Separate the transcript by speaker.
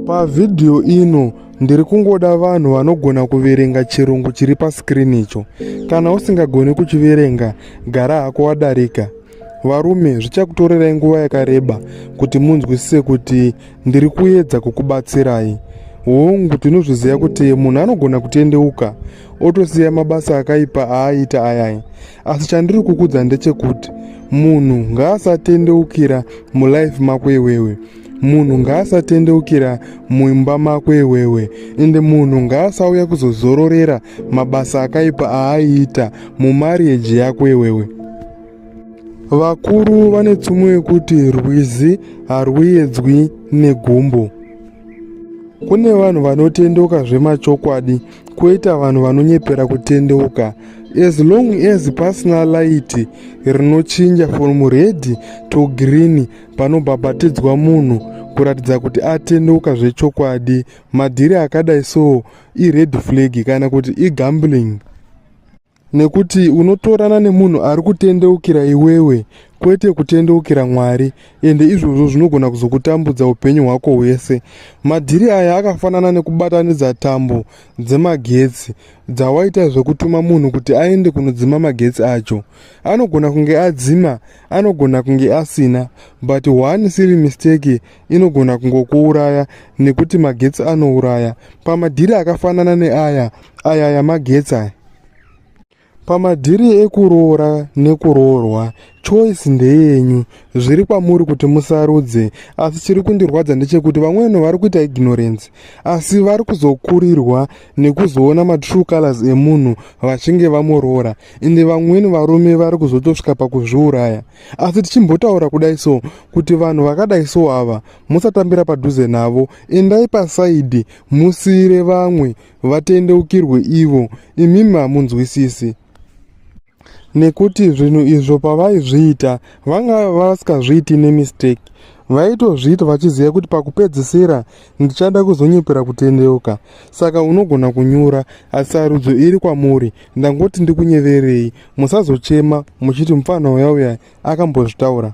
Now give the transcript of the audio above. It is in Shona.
Speaker 1: Pavhidhiyo ino ndiri kungoda vanhu vanogona kuverenga chirungu chiri paskirini icho. Kana usingagoni kuchiverenga, gara hako wadarika. Varume, zvichakutorerai nguva yakareba kuti munzwisise kuti ndiri kuedza kukubatsirai. Hongu, tinozviziva kuti munhu anogona kutendeuka otosiya mabasa akaipa aaiita ayai. asi chandiri kukudza ndechekuti munhu ngaasatendeukira mulife mako iwewe munhu ngaasatendeukira muimba mako iwewe ende munhu ngaasauya kuzozororera mabasa akaipa aaiita mumarieji yako iwewe vakuru vane tsumo yekuti rwizi harwuyedzwi negumbo kune vanhu vanotendoka zvemachokwadi koita vanhu vanonyepera kutendeuka as long as pasina laiti rinochinja from red to green panobhabhatidzwa munhu kuratidza kuti atendeuka zvechokwadi madhiri akadai so ired flag kana kuti igambling nekuti unotorana nemunhu ari kutendeukira iwewe kwete kutendeukira mwari ende izvozvo zvinogona kuzokutambudza upenyu hwako hwese madhiri aya akafanana nekubatanidza tambo dzemagetsi dzawaita zvekutuma munhu kuti aende kunodzima magetsi acho anogona kunge adzima anogona kunge asina but one siri mistake inogona kungokuuraya nekuti magetsi anouraya pamadhiri akafanana neaya aya aya magetsi aya pamadhiri ekuroora nekuroorwa choice ndeyenyu zviri kwamuri kuti musarudze asi chiri kundirwadza ndechekuti vamwene vari kuita ignorance asi vari kuzokurirwa nekuzoona matrue colors emunhu vachinge vamoroora ende vamweni varume vari kuzotosvika pakuzviuraya asi tichimbotaura kudai so kuti vanhu vakadai so ava musatambira padhuze navo endai pasaidi musiire vamwe vatendeukirwe ivo imimi hamunzwisisi nekuti zvinhu izvo pavaizviita vanga vasikazviiti nemistake vaitozviita vachiziva kuti pakupedzisira ndichada kuzonyepera kutendeuka saka unogona kunyura asi sarudzo iri kwamuri ndangoti ndikunyeverei musazochema muchiti mupfanha uya uya akambozvitaura